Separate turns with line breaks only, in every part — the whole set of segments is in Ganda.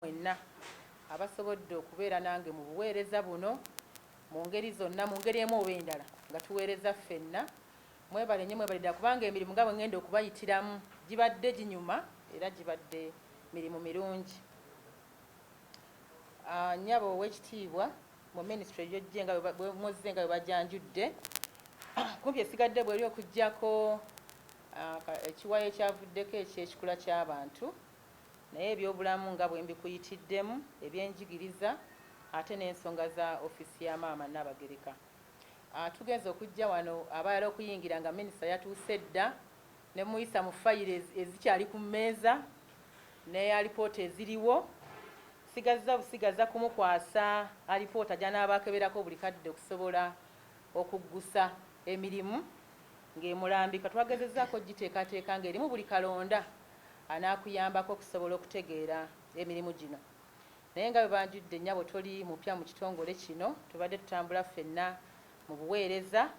mwenna abasobodde okubeera nange mu buweereza buno mu ngeri zonna, mu ngeri emu oba endala, nga tuweereza ffenna. Mwebale nnyo, mwebale ddala, kubanga emirimu nga bwe ŋŋenda okubayitiramu gibadde ginyuma era gibadde mirimu mirungi. Ah, nnyabo ow'ekitiibwa, mu minisitule gy'ojje nga bwe mozze nga bwe bajanjudde, kumpi esigadde bweri okuggyako ah, ekiwayi ekyavuddeko eky'ekikula ky'abantu. Naye ebyobulamu nga bwe mbikuyitiddemu, ebyenjigiriza ate n'ensonga za ofiisi ya Maama Nnaabagereka. Tugenze okujja wano abalala okuyingira nga minisita yatuuse dda ne mmuyisa mu fayiro ezikyali ku mmeeza ne alipoota eziriwo. Nsigazza busigaza kumukwasa alipoota gy'anaaba akeberako buli kadde okusobola okuggusa emirimu ng'emulambika. Twagezezzaako okugiteekateeka ng'erimu buli kalonda. anaakuyambako okusobola okutegeera emirimu gino. Naye nga bwe banjudde, nnyabo toli mupya mu kitongole kino. Tubadde tutambula ffenna mu buweereza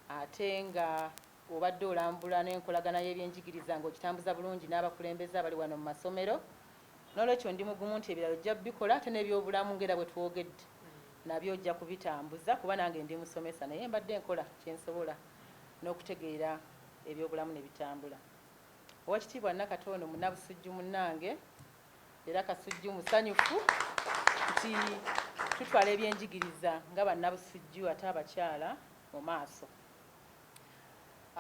ate ng'obadde olambula n'enkolagana y'ebyenjigiriza ng'ogitambuza bulungi n'abakulembeze abali wano mu masomero. Noolwekyo ndi mugumu nti ebirala ojja kubikola ate n'ebyobulamu ng'era bwe twogedde nabyo ojja kubitambuza kuba nange ndi musomesa naye mbadde nkola kye nsobola n'okutegeera ebyobulamu ne bitambula. Owekitiibwa Nakato ono munabusujju munange era Kasujju musanyufu nti tutwala ebyenjigiriza nga bannabusujju ate abakyala mu maaso.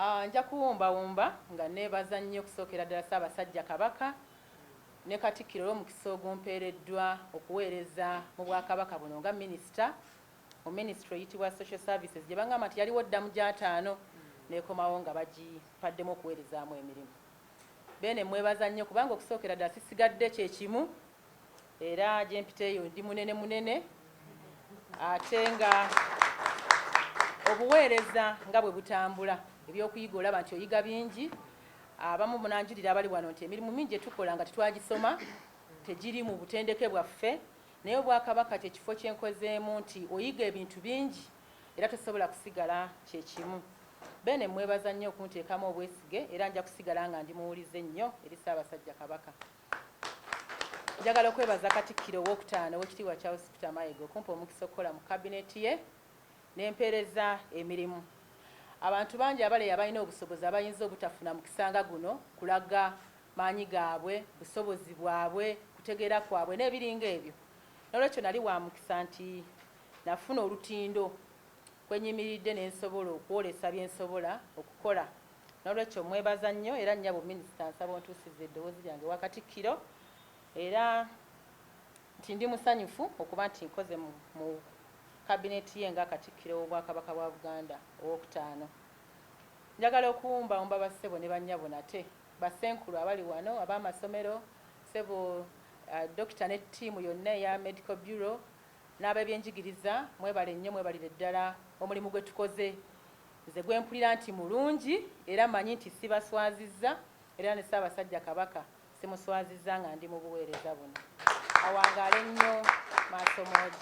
Ah, nja kuwumbawumba nga neebaza nnyo okusookera ddala Ssaabasajja Kabaka ne Katikkiro olw'omukisa ogumpeereddwa okuweereza mu Bwakabaka buno nga minisita mu minisitule eyitibwa Social Services gye bangamba nti yaliwo dda mu gy'ataano n'ekomawo nga bagipaddemu okuweerezaamu emirimu. Beene mmwebaza nnyo kubanga okusookera ddala sisigadde kye kimu era gye mpiteeyo ndi munene munene ate nga obuweereza nga bwe butambula ebyokuyiga olaba nti oyiga bingi abamu munanjulira abali wano nti emirimu mingi gye tukola nga tetwagisoma tegiri mu butendeke bwaffe Naye obwakabaka kye kifo kye nkozeemu nti oyiga ebintu bingi era tosobola kusigala kye kimu. Beene mmwebaza nnyo okunteekamu obwesige era nja kusigala nga ndi muwulize nnyo eri Ssaabasajja Kabaka. Njagala okwebaza Katikkiro ow'okutaano Owekitiibwa Charles Peter Mayiga okumpa omukisa okukola mu Kabineeti ye ne mpeereza emirimu. Abantu bangi abaleya balina obusobozi abayinza obutafuna mukisa nga guno kulaga maanyi gaabwe, busobozi bwabwe, kutegeera kwabwe, n'ebiringa ebyo. N'olwekyo nali wa mukisa nti nafuna olutindo kwe nnyimiridde ne nsobola okwolesa bye nsobola okukola. N'olwekyo mmwebaza nnyo era nnyabo Minisita nsaba ontuusize eddoboozi lyange ewa Katikkiro era nti ndi musanyufu okuba nti nkoze mu Kabineeti ye nga Katikkiro w'Obwakabaka bwa Buganda ow'okutaano. Njagala okuwumbaumba bassebo ne bannyabo nate. Ba Ssenkulu abali wano, ab'amasomero, Ssebo Dokita ne ttiimu yonna eya Medical Bureau n'ab'ebyenjigiriza mwebale nnyo mwebalire ddala omulimu gwe tukoze. Nze gwe mpulira nti mulungi era manyi nti sibaswazizza era ne Ssaabasajja Kabaka simuswazizza nga ndi mu buweereza buno. Awangaale nnyo Maasomoogi.